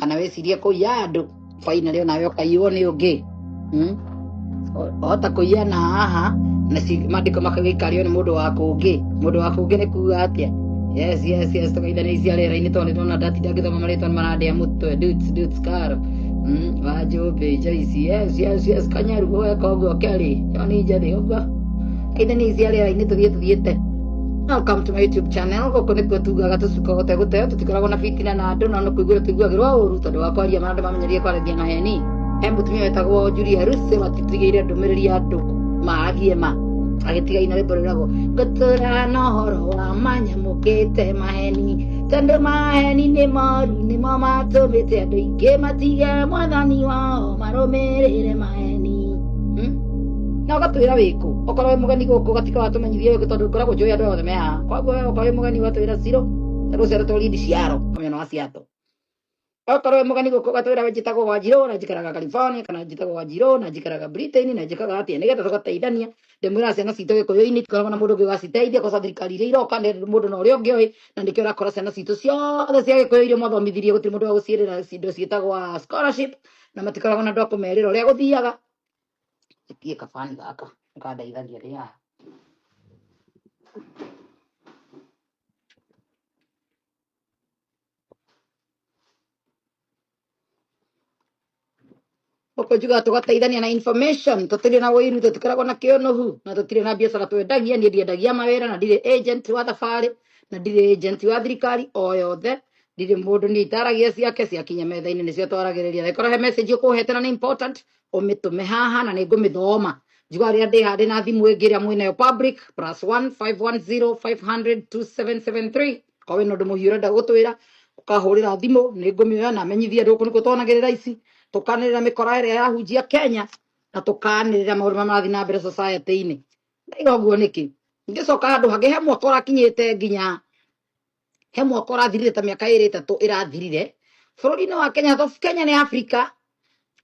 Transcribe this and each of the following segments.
kana wĩcirie kũiya andũ finally onawe ũkaiywo nĩ ũngĩ hmm? O- ohota kũiya na haha na ci- maandĩko makagĩikario nĩ mũndũ wa kũngĩ mũndũ wa kũngĩ nĩ kuga atĩa yes yes yes tũgeithanicia rĩera-inĩ tondũ nĩtwona ndatinda ngĩthoma marĩtwa marandĩa mũtwe dudes dudes karo Mm, wanjũmbĩ joici yes yes yes kanyaru weka ũguo kelly yoni njethĩ ũguo geithanicia rĩera-inĩ tũthiĩ tũthiĩte Welcome to my YouTube channel. Gũkũ nĩkuo tugaga tũcuka gũte gũte, tũtikoragwo na fitina na andũ na no kũiguĩra tũiguagĩrwo ũru tondũ wa kwaria ma andũ mamenyerie kwaragia na heni. He mũtumia wetagwo Julia Russe watitigĩire ndũmĩrĩri ya andũ maagie ma agĩtiga ina rĩmbo rĩragwo ngũtũra na ũhoro wa manyamũkĩte maheni tondũ maheni nĩ moru nĩmo matũmĩte andũ aingĩ matige mwathani wao marũmĩrĩre maheni na ũgatwĩra wĩkũ okorwo wĩ mũgeni gũkũ ũgatika watũmenyithia wĩkũ tondũ ngoragwo njũĩ andũ othe me haha koguo we okorwo wĩ mũgeni ũgatwĩra ciro tondũ ũcere tũri ndiciaro kamĩona wa ciato okorwo wĩ mũgeni gũkũ ũgatwĩra we njĩtagwo wanjirũ na njikaraga California kana njĩtagwo wanjirũ na njikaraga Britain na njĩkaga atĩa nĩgetha tũgateithania ndĩmwĩra ciana citũ gĩkũyũ-inĩ tikoragwo na mũndũ ũngĩ ũgaciteithia kosa thirikari iria iroka nĩ mũndũ na ũrĩa ũngĩ ũĩ na nĩkĩo ũrakora ciana citũ ciothe cia gĩkũyũ iria mwathomithirie gũtirĩ mũndũ wa gũciĩrĩra indo ciĩtagwo scholarship na matikoragwo na andũ a kũmerĩra ũrĩa gũthiaga ĩtie kabani gaka nĩkandeithagia ndĩ haha gũkũ njugaga tũgateithania na information tũtirĩ na wĩiru tũtikoragwo na kĩũnũhu na tũtirĩ na biacara twendagia niĩ ndiendagia mawĩra na ndirĩ agent wa thabarĩ na ndirĩ agent wa thirikari o yothe ndirĩ mũndũ niĩ itaragia ciake ciakinya metha-inĩ nĩcio twaragĩrĩria angĩkorwo he message ũkũhete na nĩ important ũmĩtũme haha na nĩ ngũmĩthoma njigua rĩrĩa ndĩ handĩ na thimũ ĩngĩ ĩrĩa mwĩnayo public plus 15105002773 kwa wĩna ũndũ mũhiũ ũrenda gũtwĩra ũkahũrĩra thimũ nĩ ngũmĩoya na menyithie andũ gũkũ nĩkuo twanagĩrĩra ici tũkanĩrĩra mĩkora ĩrĩa yahunjia kenya na tũkanĩrĩra maũndũ marĩa marathiĩ na mbere society-inĩ ndaiga ũguo nĩkĩ ngĩcoka handũ hangĩ he mwaka ũrakinyĩte nginya he mwaka ũrathirire ta mĩaka ĩrĩ ĩtatũ ĩrathirire bũrũri-inĩ wa Kenya thof Kenya nĩ Africa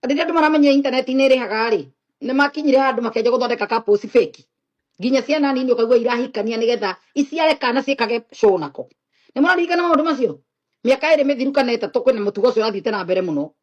rĩrĩa andũ maramenya intaneti nĩ ĩrĩhaga rĩ nĩ makinyire handũ makenja gũthondeka couples fake nginya ciana nini ũkaigua irahikania nĩgetha iciare kana ciĩkage show nako nĩ mũraririkana maũndũ macio mĩaka ĩrĩ mĩthiru kana ĩtatũ kwĩna mũtugo ũcio ũrathiĩte na mbere mũno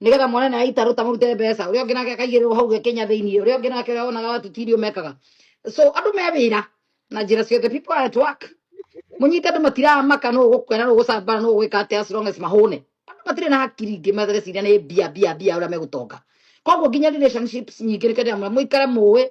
nigetha mwana naye aitaruta murute mbeca uria ungi nake akaigirwo hau gekinya thiini uria ungi nake uria wonaga watu tirio mekaga so andu me wira na njira ciothe people are at work munyite andu matiramaka no gukwena no gucambana no gwika atia as long as mahune andu matire na hakiri ingi mathireciria ni mbia mbia mbia uria megutonga koguo nginya relationships nyingi ni kenda muikare muwi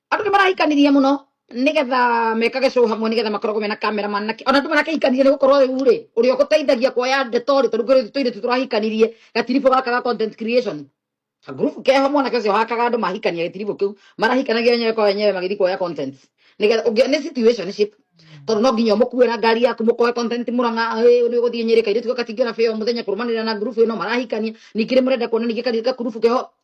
andå nä marahikanirie må no nä getha mekage cå hamwe nä getha makoragwo mena kamera manake ona andå marakehikanirie nä gå korwo rä u rä å rä a gå teithagia kuoya ndeto rä tondå ngä rä tå irä tå tå rahikanirie gatiribå gaka ga content creation ngurubu keho mwanake ũcio hakaga andũ mahikania gĩtiribũ kĩu marahikanagia wenyewe kwa wenyewe magĩthiĩ kuoya content nĩgetha ũngĩ nĩ situationship tondũ no nginya ũmũkue na ngari yaku mũkoe content mũrang'a "Ĩ, nĩ ũgũthiĩ nyĩrĩ kairĩtu gaka tingĩona bĩo mũthenya kũrũmanĩrĩra na ngurubu ĩno marahikania ningĩ nĩ mũrenda kuona ningĩ kairĩtu gakurubu keho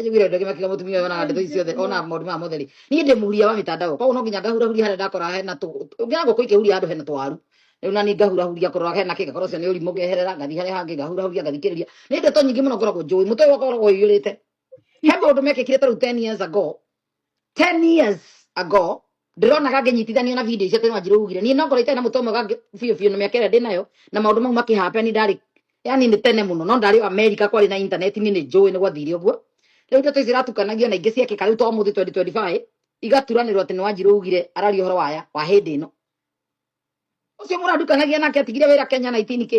Njiguire ũndũ ũngĩ makiuga mũtumia ũyũ onaga ndeto ici ciothe onaga maũndũ maya mothe rĩ niĩ ndĩ mũhuria wa mĩtandao koguo no nginya ngahurahuria harĩa ndakora hena tũ ngĩona ngũkũ ikĩhuria handũ hena tũwaru rĩu nani ngahurahuria kũrora hena kĩ ngakorwo ũcio nĩ ũrimũ ngeherera ngathi harĩa hangĩ ngahurahuria ngathikĩrĩria nĩ ndeto nyingĩ mũno ngoragwo njũĩ mũtwe wakwa ũkoragwo ũiyũrĩte he maũndũ mekĩkire tarĩu 10 years ago 10 years ago ndĩrona gangĩnyitithanio na video icio tene wanjirũ ugire niĩ nongorwo itarĩ na mũtwe ũmwe gangĩ biũ biũ na mĩaka ĩrĩa ndĩ nayo na maũndũ mau makĩhape ni ndarĩ yani nĩ tene mũno no ndarĩ o amerika kwarĩ na intaneti niĩ nĩ njũĩ nĩ gwathire ũguo rĩu ndeto ici iratukanagio na ingĩ ciekĩka rĩu to mũthĩ 2025 igaturanĩrwo atĩ nĩ wanjirũ ugire araria ũhoro waya wa hĩndĩ ĩno ũcio mũrandukanagia nake atigire wĩra kenya 19 kĩ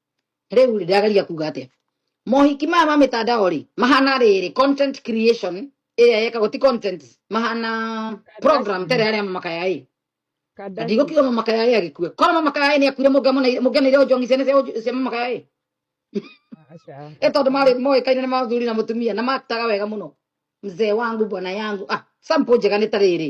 rĩu rĩ, ndĩrageria kuga atĩa mohiki maya ma mĩtandao rĩ mahana rĩrĩ content creation ĩrĩa yekagwo ti content mahana program tere arĩa mamakaya ĩ na Kardashian. ndigũkiuga mamakaya ĩ agĩkue korwo mamakaya ĩ nĩ akuire mũngĩanĩire ũnjongi ciana cia ũnj- cia mamakaya ĩ Aca. ĩ tondũ marĩ moĩkaine nĩ mathuri na mũtumia na maktaga wega mũno mzee wangu bwana yangu ah sample njega nĩ ta rĩrĩ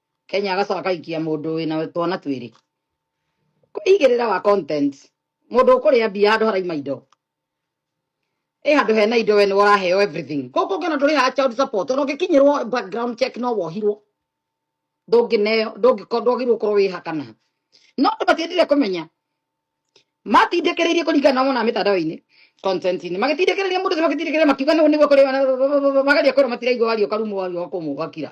kenya agacoka akaikia mũndũ wĩna twana twĩrĩ igĩrĩra wa content mũndũ ũkũrĩa mbia handũ haraima indo ĩ handũ hena indo we nĩ waraheo everything kũkũ ngĩona ndũrĩ ha child support ona ũngĩkinyĩrwo background check no wohirwo ndũngĩneo ndũngĩko ndwagĩrĩirwo gũkorwo wĩha kana no andũ matiendire kũmenya matindĩkĩrĩirie kũringana na mona mĩtandao-inĩ content-inĩ magĩtindĩkĩrĩria mũndũ ũcio magĩtindĩkĩrĩria makiuga nĩguo nĩguo kũrĩ mageria kwĩrwo matiraigua wario karumwo wario kũmũ gakira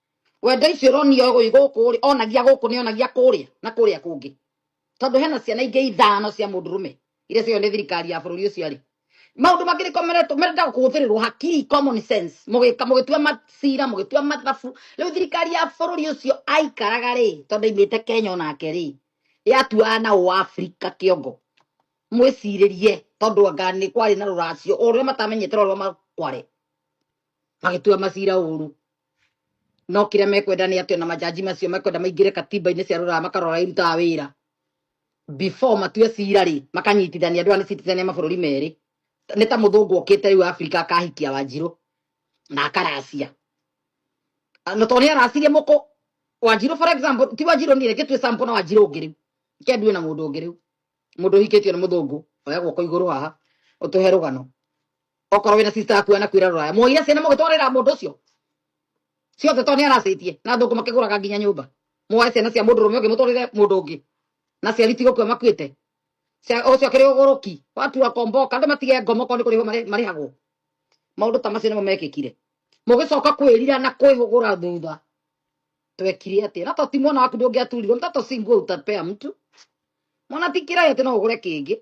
wenda icio ũronia ũyũ gũkũ rĩ onagia gũkũ nĩ onagia kũrĩa na kũrĩa kũngĩ tondũ hena ciana ingĩ ithano cia mũndũrũme iria cio nĩ thirikari ya bũrũri ũcio arĩ maũndũ mangĩ nĩ komeretwo merenda kũhũthĩrĩrwo hakiri common sense mũgĩka mũgĩtua macira mũgĩtua mathabu rĩu thirikari ya bũrũri ũcio aikaraga rĩ tondũ imĩte Kenya onake rĩ yatuaga na ũ Afrika kĩongo mwĩcirĩrie tondũ anga nĩ kwarĩ na rũracio ũrĩa matamenyete rwa makware magĩtua macira ũru no kĩrĩa mekwenda nĩ atĩ ona majaji macio mekwenda maingĩre katiba-inĩ cia rũraya makarora irutaga wĩra before matue cira rĩ makanyitithania andũ aya nĩ citithania mabũrũri merĩ nĩ ta mũthũngũ okĩte rĩu Afrika akahikia Wanjirũ na akaracia Ah, na tondũ nĩ aracirie mũkũ Wanjirũ for example ti Wanjirũ nĩ reke tue sample na Wanjirũ ũngĩ rĩu reke ndue na mũndũ ũngĩ rĩu mũndũ ũhikĩtio nĩ mũthũngũ oya guoko igũrũ haha ũtũhe rũgano okorwo wina sister yaku anakwira ruraya muoire ciana mugitwarira mundu ucio ciothe to ni aracitie na thungu makiguraga nginya nyumba muoe ciana cia mundu rume ungi mutwarire mundu ungi na ciari ti gukua makuite Cia- ucio akiri uguruki watu akomboka andu matige ngomo ko ni kuriho mari- marihagwo maundu ta macio nimo mekikire mugicoka kwirira na kwihugura thutha twekire atia na to ti mwana waku ndungiaturirwo mtoto si nguo utapea mtu mwana ti kirai ati no ugure kingi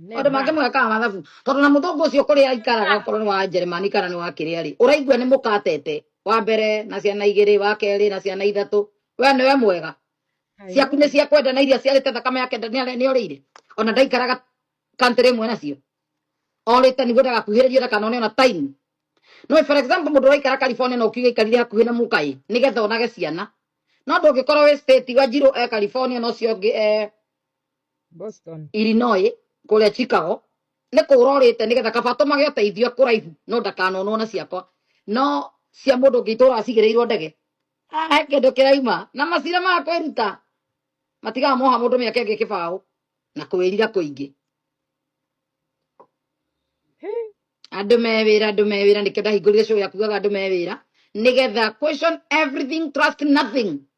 nĩ Maũndũ mangĩ maths mwekaga mathabu tondũ na mũthũngũ ũcio kũrĩa aikaraga okorwo nĩ wa Njeremani kana nĩ wa kĩrĩa rĩ, ũraigua nĩ mũkatete wa mbere na ciana igĩrĩ, wa kerĩ na ciana ithatũ, we nĩwe mwega Ai, ciaku nĩ cia kwenda na iria ciarĩte thakame yake nda- nĩare- nĩorĩire ona ndaikaraga country ĩmwe nacio orĩte nĩguo ndagakuhĩrĩrio ndakanone ona time no for example mũndũ ũraikara California na ũkiuga ikarire hakuhĩ na mũkaĩ nĩgetha onage ciana no ndũngĩkorwo wĩ state wa njirũ e California na ũcio ũngĩ e Boston. Illinois kũrĩa Chicago nĩ kũrorĩte nĩgetha kaba tũmage ũteithio kũraihu no ndakanonwo na ciakwa no cia mũndũ ũngĩ itũraga cigĩrĩirwo ndege Ah, he kĩndũ kĩraima na macira ma kwĩruta matigaga moha mũndũ mĩaka ĩngĩ kĩbaũ na kwĩrira kũingĩ andå me wä ra andå me wä ra nä kä ndahingå rire cå ya kugaga andå me wä ra nä getha question everything trust nothing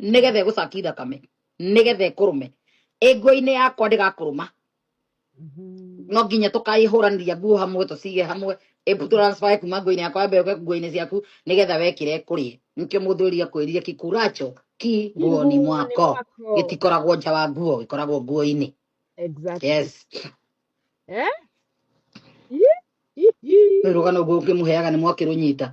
nĩgetha ĩgũcaki thakame nĩgetha ĩkũrũme ĩngũinĩ yakwa ndĩgakũrũma Mhm. no nginya tũkaĩhũranĩria nguo hamwe tũcige hamwe ĩbu transfer kuma nguo-inĩ yakwa yambe yoke nguo-inĩ ciaku nĩgetha wekĩre kũrĩ nĩkĩo mũndũ ũria kwĩrire kikuracho ki nguoni Kiguoni mwako mwako. gĩtikoragwo nja wa nguo gĩkoragwo nguo-inĩ Exactly. yes Eh? Ih, ih, ih. rũgano guo ngĩmũheaga nĩ mwakĩrũnyita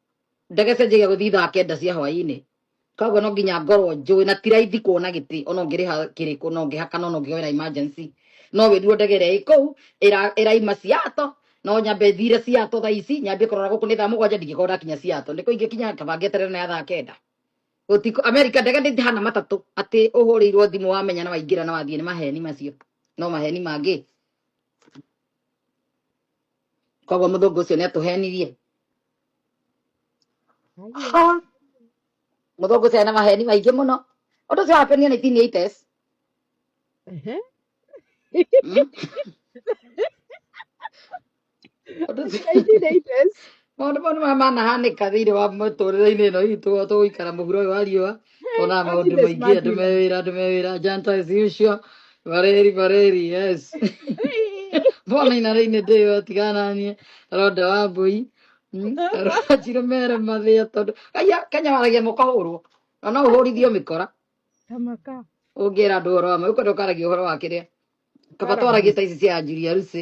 ndege cenjagia gå thiĩ thaa kenda cia hwainä koguo no nginya ngorwo njå na ti raithi kuona gä tä ona å ngä rä ha kä rä kå no ngä hakana ona å ngä oera emergency no wä ruo ndege ä rä a ä kå u ä raima ciato no nyambe thire ciato thaa ici nyambie kå rora gå kå nä thaa må gwanja ndingä korwo ndakinya ciato nä kå ingä kinya kaba ngä eterere na ya thaa kenda Gũtiku, Amerika ndege nĩ hana matatũ atĩ ũhũrĩirwo thimũ wamenya na waingĩra na wathiĩ nĩ maheni macio no maheni mangĩ koguo mũthũngũ ũcio nĩ atũhenirie Ha! Mũthũngũ ũcio ena maheni maingĩ mũno. Ũndũ ũcio wapenia nĩ tini ites. Ehe. Ũndũ ũcio Kaingĩ nĩ ites. maũndũ mau nĩ marĩa manahanĩka thĩinĩ wa mũtũrĩre-inĩ ĩno itũ tũgũikara mũhuro ũyũ wa riũa Ona maũndũ Happiness maingĩ andũ me Madina. wĩra andũ me wĩra janta as usual bareri bareri yes mbona inarĩ-inĩ ndĩyo tigana niĩ ronda wa mbũi Mm, rwanjirũ mere mathĩa tondũ aya kenya waragia mũkahũrwo na no ũhũrithio mĩkora Tamaka. ũngĩra andũ ũhoro wa ma ũkwenda ũkaragia ũhoro wa kĩrĩa kaba Kara twaragie ta ici cia anjiri arucĩ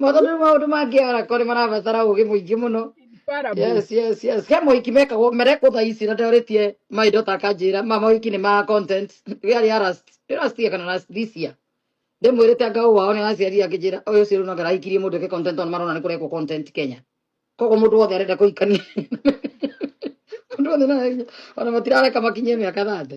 Mwathani nĩ maũndũ mangĩ arakorwo nĩ marabatara ũũgĩ mũingĩ mũno. Bara bu. Yes, yes, yes. He mohiki mekagwo merekwo thaa ici na ndorĩtie maindo ta kanjĩra ma mohiki nĩ ma content rĩarĩ ya last nĩ last year kana last this year ndĩmwĩrĩte anga ũũ wao nĩ araciarire akĩnjĩra ũyũ ũcio rĩu no ndarahikirie mũndũ eke content tondũ marona nĩ kũrekwo content Kenya koguo mũndũ wothe arenda kũhikania mũndũ wothe no ahikie. ona matirareka makinyie mĩaka thate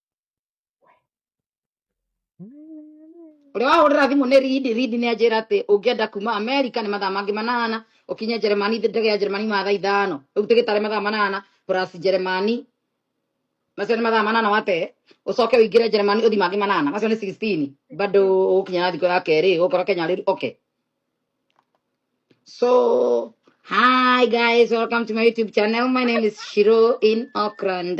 ũrĩa wahũrĩra thimũ nĩ ridi ridi nĩ anjĩra atĩ ũngĩenda kuma amerika nĩ mathaa mangĩ manana ũkinye njeremani ndege ya njeremani mathaa ithano rĩu tigĩtarĩ mathaa manana plus njeremani macio nĩ mathaa manana wate ũcoke ũingĩre njeremani ũthi mangĩ manana macio nĩ 16 bado ũgũkinya na thikũ ya kerĩ ũgũkora kenya rĩu okay so hi guys welcome to my youtube channel my name is shiro in auckland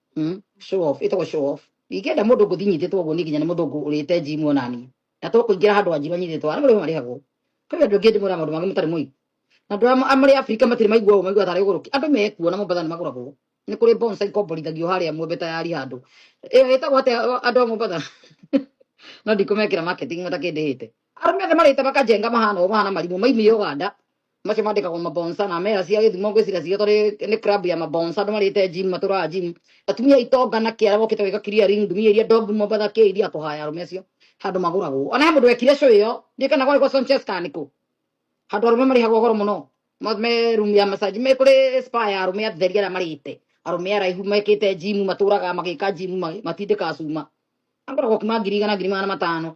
mm? show off ĩtagwo show off ingĩenda mũndũ ngũthi nyitĩtwo ũguo niĩ nginya nĩ mũthũngũ ũrĩte njimu onani na to kũingĩra handũ wanjiru anyitĩtwo arĩa marĩho marĩhagwo kwĩ andũ angĩ ndĩmwĩra maũndũ mangĩ mũtarĩ mũi na andũ arĩa marĩ Afrika matirĩ maigua ũũ maigua tarĩ gũrũki andũ mekuo na Mombasa nĩ magũragwo nĩ kũrĩ bonsa ikomborithagio harĩa mwembe tayari handũ ĩyo ĩtagwo atĩa andũ a Mombasa no ndikũmekĩra marketing matakĩndĩhĩte arũme othe marĩte makajenga mahana ũũ mahana marimũ maimire Uganda macio mandĩkagwo mabonsa na mera cia gĩthumo ngwĩciria cio tondũ nĩ nĩ club ya mabonsa andũ marĩte gym matũraga gym atumia itonga na kĩara mokĩte gwĩka kiria ring ndumia iria ndobu mobatha kĩa iria kũhaya arũme acio handũ magũragwo ona he mũndũ wekire show ĩyo ndiĩ kana gwarĩ gwa Sanchez kana nĩkũ handå arå me marä hagwo goro må no Ma- me room ya masaji me kå rä spa ya arå me atheri arä a marä te arå me araihu mekä te jimu matå raga magä ka jimu matindä ka cuma angoragwo kuma ngiri igana ngiri magana matano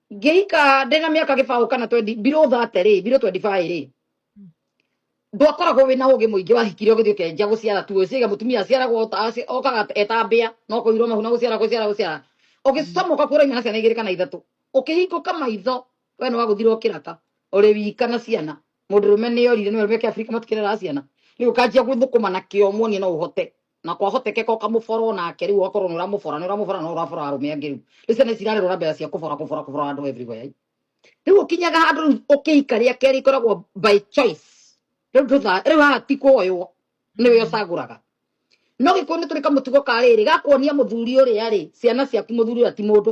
ngĩika ndĩ na mĩaka gĩbaũ kana 20 below 30 rĩ below 25 rĩ ndwakoragwo wĩna ũgĩ mũingĩ wahikire ũgĩthiĩ ũkenjia gũciara tu ũciaga mũtumia aciaragwo ta- aci- okaga etambĩa no kũirwo mahu na gũciara gũciara gũciara ũgĩcama ũkakuĩra imana ciana igĩrĩ kana ithatũ ũkĩhingũka maitho we nĩ wagũthirwo kĩraka ũrĩ wika na ciana mũndũrũme nĩ orire nĩ we meke abirika matikĩrera ciana rĩu ũkanjia gũthũkũma na kĩo muonie no ũhote na kwahotekeka ũkamũbora o nake rĩu ũgakorwo nĩ ũramũbora nĩ ũramũbora no ũrabora arũme angĩ rĩu rĩu ciana cirarĩ rora mbere cia kũbora kũbora kũbora andũ everywhere rĩu ũkinyaga handũ rĩu ũkĩhika rĩa kerĩ ikoragwo by choice rĩu ndũtha rĩu haha ti kuoywo nĩwe ũcagũraga no gĩkũyũ nĩ tũrĩ kamũtugo ka rĩrĩ gakuonia mũthuri ũrĩa rĩ ciana ciaku mũthuri ũrĩa ti mũndũ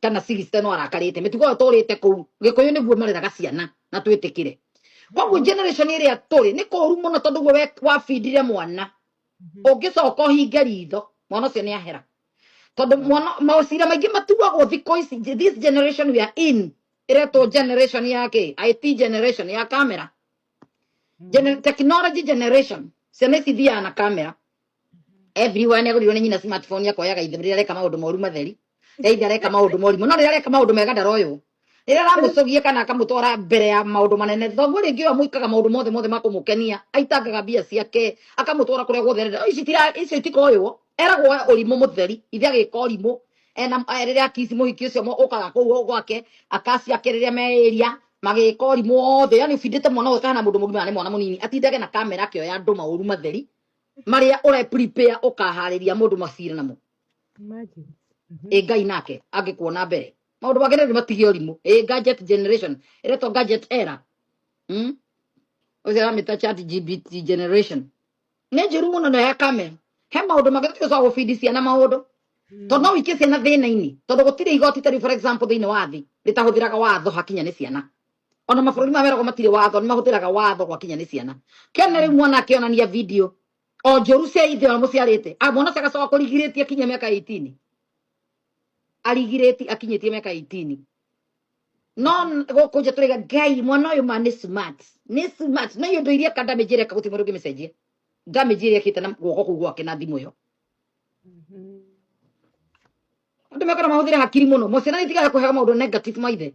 kana sixty no arakarite mitugo yo turite kuu gikuyu niguo mareraga ciana na twitikire koguo Mhm. generation iria turi ni kuru muno tondu guo we wabindire mwana Mhm. ungicoka uhinge ritho mwana ucio ni ahera tondu Yeah. mwana mawacira maingi matuagwo thiko ici this generation we are in iretwo generation ya ki it generation ya camera Gene- Mhm. technology generation ciana ici thiaga na camera everyone agũrirwo nĩ nyina smartphone akoyaga ithe rĩrĩa areka maũndũ moru matheri rĩrĩa ithe areka maũndũ morimũ no rĩrĩa areka maũndũ mega ndaroywo rĩrĩa aramũcogia kana akamũtwara mbere ya maũndũ manene thoguo rĩngĩ ũyũ amwĩkaga maũndũ mothe mothe ma kũmũkenia aitangaga mbia ciake akamũtwara kũrĩa guothe arenda ici tira icio itikoywo eragwo oe ũrimũ mũtheri ithe agĩka ũrimũ ena eh, rĩrĩa akisi mũhiki ũcio mo- ũkaga kũu gwake akasi ake rĩrĩa meĩria magĩka ũrimũ wothe yani ũbindĩte mwana ũyũ kahana mũndũ mũgima na nĩ mwana mũnini atindage na kamera akĩoya andũ maũru matheri marĩa ũre prepare ũkaharĩria mũndũ macira namo Imagine. Mhm. ĩ ngai nake angĩkuona mbere maũndũ make nĩ matige ũrimũ ĩ gadget generation ĩretwo gadget era mm? ũcio aramĩta chat gbt generation nĩ njũru mũno na ya kame he maũndũ mangĩ tũcoka gũbindi ciana maũndũ tondũ no wĩkie ciana thĩna-inĩ tondũ gũtirĩ igoti tarĩu for example thĩinĩ wa thĩ rĩtahũthĩraga watho hakinya nĩ ciana ona mabũrũri ma weragwo matirĩ watho nĩ mahũthĩraga watho gwakinya nĩ ciana kena rĩu mwana akĩonania video o njũru cia ithe ũrĩa mũciarĩte Ah, mwana ũcio agacoka kũrigirĩtie akinyia mĩaka 18 arigirĩti akinyĩtie mĩaka 18 no gũkũ nja tũrĩga ngai mwana ũyũ ma nĩ smart nĩ smart no yũndũ iria ka damage ĩreka gũtirĩ mũndũ ũngĩmĩcenjia damage ĩrĩa ĩkĩte na guoko kũu gwake na thimũ ĩyo andũ mekana mahũthĩre hakiri mũno mociana nĩ itigaga kũhega maũndũ negative maithe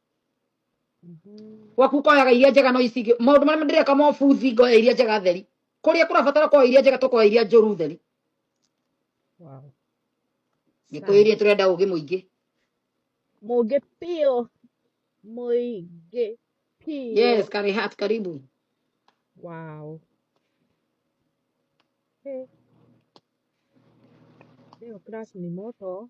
gwaku koyaga iria njega no icigio maundu maria ndireka mo buthi ngoya iria njega theri kuria kurabatara koya iria njega tukoya iria njuru theri wow ngikuirie turenda ugi muingi mugi pio muingi pio yes kari hat karibu wow hey. Leo class ni moto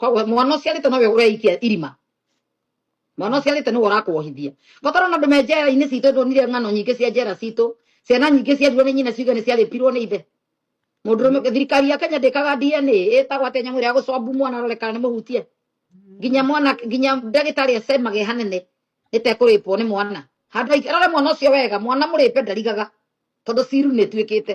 koguo mwana ũcio arĩte nowe ũreikia irima mwana ũcio arĩte nĩwe ũrakuohithia ngotoro na andũ me njera-inĩ citũ ndonire ng'ano nyingĩ cia njera citũ ciana nyingĩ ciarirwo nĩ nyina ciuga nĩ ciarĩpirwo nĩ ithe mũndũ rũme thirikari ya kenya ndĩkaga dna ĩtagwo atĩ nyamũ ĩrĩa gũcombu mwana arore kana nĩ mũhutie nginya mwana nginya ndagĩtarĩ acemage hanene ĩtekũrĩpwo nĩ mwana handũ aik- arore mwana ũcio wega mwana mũrĩpe ndarigaga tondũ ciru nĩ ĩtuĩkĩte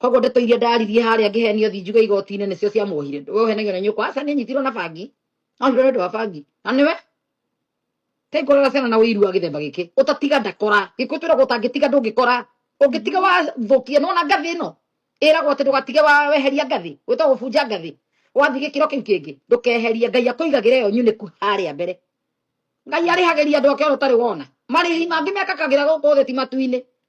koguo ndeto iria ndaririe harĩa ngĩhenio thi njuge igoti-inĩ nĩcio ciamuohire we ũhenagio na nyũkwa aca nĩ nyitirwo na bangi ohirwo nĩ ũndũ wa bangi na nĩwe kai ngorora ciana na ũiru wa gĩthemba gĩkĩ ũtatiga ndakora gĩkũ twĩragwo ũtangĩtiga ndũngĩkora ũngĩtiga wathũkia nĩ wona ngathĩ ĩno ĩragwo atĩ ndũgatige wa weheria ngathĩ wĩtwa gũbunja ngathĩ wathiĩ gĩkĩro kĩu kĩngĩ ndũkeherie ngai akũigagĩra ĩyo nyunĩku harĩa mbere ngai arĩhagĩria andũ ake ona ũtarĩ wona marĩhi mangĩ mekakagĩra gũkũ thĩ ti matu-inĩ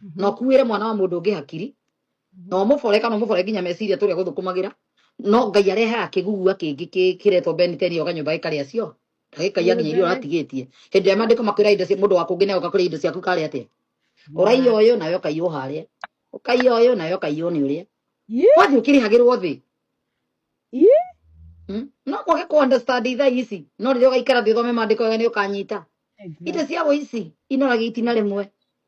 Mhm. na ũkuĩre mwana wa mũndũ ũngĩ hakiri mhm. na ũmũbore kana ũmũbore nginya meciria tũrĩa gũthũkũmagĩra no ngai arehaga kĩgugua kĩngĩ kĩretwo beniteni oga nyũmba gĩkarĩa cio gĩkaiya nginya irio ũratigĩtie hĩndĩ ĩrĩa mandĩko makwĩra indo cia mũndũ wa kũngĩ nawe ũgakũrĩa indo ciaku karĩa atĩa ũraiya ũyũ nawe ũkaiywo harĩa ũkaiya ũyũ nawe ũkaiywo nĩ ũrĩa wathiĩ ũkĩrĩhagĩrwo thĩ hmm? no kwage kũ understand itha ici no rĩrĩa ũgaikara thĩ ũthome mandĩko wega nĩ ũkanyita indo cia ũici inoragĩa itina rĩmwe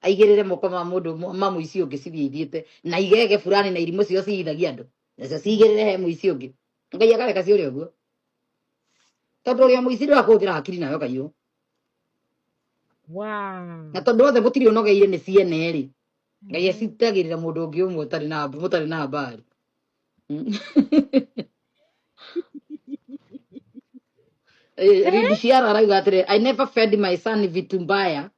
aigĩrĩre moko ma mũndũ ũmwe- ma mũici ũngĩ cithiĩ ithiĩte na igege burani na irimũ cio ciithagia andũ nacio ciigĩrĩre he mũici ũngĩ ngai akareka ciũrĩ ũguo tondũ ũrĩa mũici ndũrakũhũthĩra hakiri nayo kaiyũ Wow. na tondũ othe mũtirĩ ũnogeire nĩ ciene rĩ ngai Mhm. acitagĩrĩra mũndũ ũngĩ ũmwe ũtarĩ na mũtarĩ na mbari Eh, Rindi Ciara arauga atĩrĩ I never fed my son vitu mbaya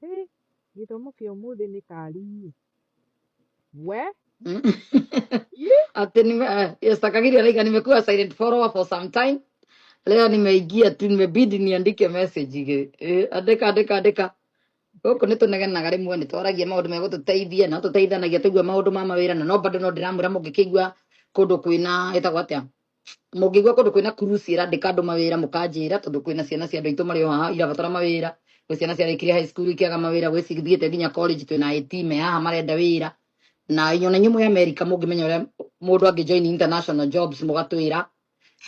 Hey, gĩthomo kĩa ũmũthĩ nĩ kari niĩ. We? Ih, Ati nime eh, yes, Kagiri Alaika, nimekuwa silent follower for some time. Leo nimeingia tu, nimebidi niandike message ige. Eh, andika andika andika. Gũkũ nĩ tũnegenaga rĩmwe nĩ twaragia maũndũ megũtũteithia na tũteithanagia tũigua maũndũ ma mawĩra na no bado no ndĩramwĩra mũngĩkĩigua kũndũ kwĩna ĩtagwo atĩa mũngĩigua kũndũ kwĩna kuruci ĩrandĩka andũ mawĩra mũkanjĩra tondũ kwĩna ciana cia andũ aitũ marĩ o haha irabatara mawĩra gwĩ ciana ciarĩkirie high school ikĩaga mawĩra gwĩ cithiĩte nginya college twĩna eti me haha marenda wĩra na inyuĩ na inyuĩ mwĩ america mũngĩmenya ũrĩa mũndũ angĩ join international jobs mũgatwĩra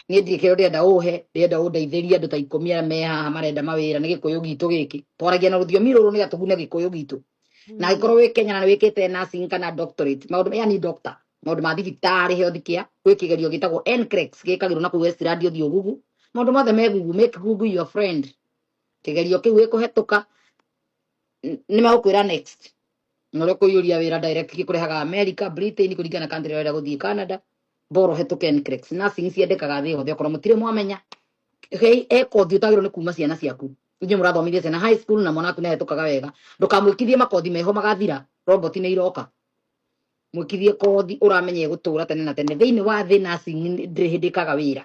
niä ndirä kä rä ndä enda å he ndä enda å ndeithärie andå ta ikå mi arä a me haha marenda mawä ra nä gä kå yå gitå gä kä twaragia na rå thiomi rå rå nä gatå gune gä kå yå gitå na Mm. angĩkorwo wĩ kenya na nĩ wĩkĩte nursing kana doctorate maũndũ maya ni doctor maũndũ ma thibitarĩ health care gwĩ kĩgerio gĩtagwo NCLEX gĩkagĩrwo na kũu westirandi ũthiĩ ũgugu maũndũ mothe me gugu make google your friend kĩgerio kĩu gĩkũhetũka n- nĩ megũkwĩra next na ũrĩa kũiyũria wĩra direct gĩkũrehaga america britain kũringana na country ĩrĩa ũrenda gũthiĩ canada mboro hetũke NCLEX. Nursing ciendekaga thĩ yothe okorwo mũtirĩ mwamenya Gei ekothi utagirwo ni kuma ciana ciaku inye murathomithia ciana high school na mwana waku nehĩtũkaga wega ndũkamwĩkithie makothi meho magathira robot nĩ iroka mwĩkithie kothi ũramenya ĩgũtũra tene na tene thĩinĩ wa thĩ nursing ndĩrĩ hĩndĩ ĩkaga wĩra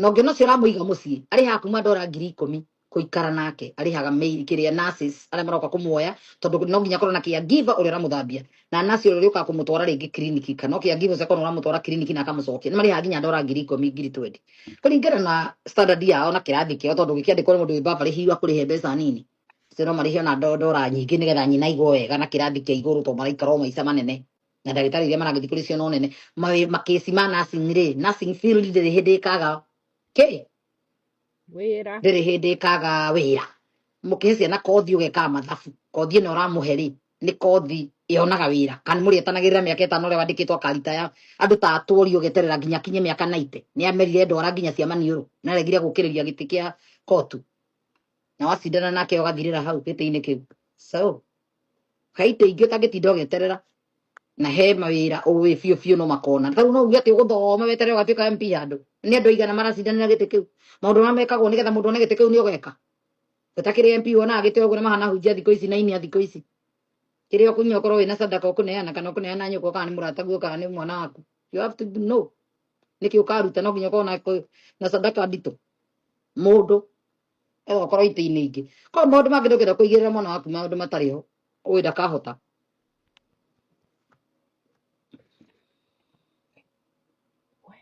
na ũngĩona ũcio ũramũiga mũciĩ arĩhaga kuma ndora ngiri ikũmi kũikara nake arĩhaga maid kĩrĩa nurses arĩa maroka kũmuoya tondũ no nginya korwo na kĩa giver ũrĩa ũramũthambia na nurse ũrĩa ũrĩũkaga kũmũtwara rĩngĩ kiriniki kana o kĩa giver ũcio akorwo ũramũtwara kiriniki na akamũcokia nĩ marĩhaga nginya ndora ngiri ikũmi ngiri twendi kũringana na standard yao na kĩrathi kĩao tondũ gĩkĩandĩkwo nĩ mũndũ wĩ baba rĩhiwa kũrĩhe mbeca nini ũcio no marĩhe ona ndo- ndora nyingĩ nĩgetha nyina aigwo wega na kĩrathi kĩa igũrũ tondũ maraikara o maica manene na ndagĩtarĩ iria maragĩthiĩ kũrĩ cio no nene mawĩ- makĩci ma nursing rĩ nursing field ndĩrĩ hĩndĩ ĩkaga kĩ wĩra ndĩrĩ hĩndĩ ĩkaga wĩra mũkĩhe ciana kothi ũgekaga mathabu kothi ĩno ũramũhe rĩ nĩ kothi yonaga wĩra kana mũrĩ etanagĩrĩra mĩaka ĩtano ũrĩa wandĩkĩtwo akaritaya andũ ta atwori ũgeterera nginya kinye mĩaka 90 nĩ amerire ndwara nginya cia maniũrũ na aregire gũkĩrĩria gĩtĩ kĩa kotu na wacindana nake ũgathirĩra hau gĩtĩ-inĩ kĩu so kai te ingä å tangä tinda å geterera na he mawira uwi biu biu no makona tau no uge ati uguthoma wetere ugatuika MP handu ni andu aigana maracindanira giti kiu maundu ma mekagwo nigetha mundu one giti kiu ni ugeka utakiri MP wona agite uguo na mahana hunjia thiku ici na inia thiku ici kiri okunya ukorwo wina sadaka ukuneana kana ukuneana nyuko kana ni murata guo kana ni mwana waku you have to know niki ukaruta no nginya ukorwo na na sadaka ndito mundu ĩyo korwo itĩ-inĩ ingĩ korwo maũndũ mangĩ ndũngĩenda kũigĩrĩra mwana waku maũndũ matarĩ ho ũĩ ndakahota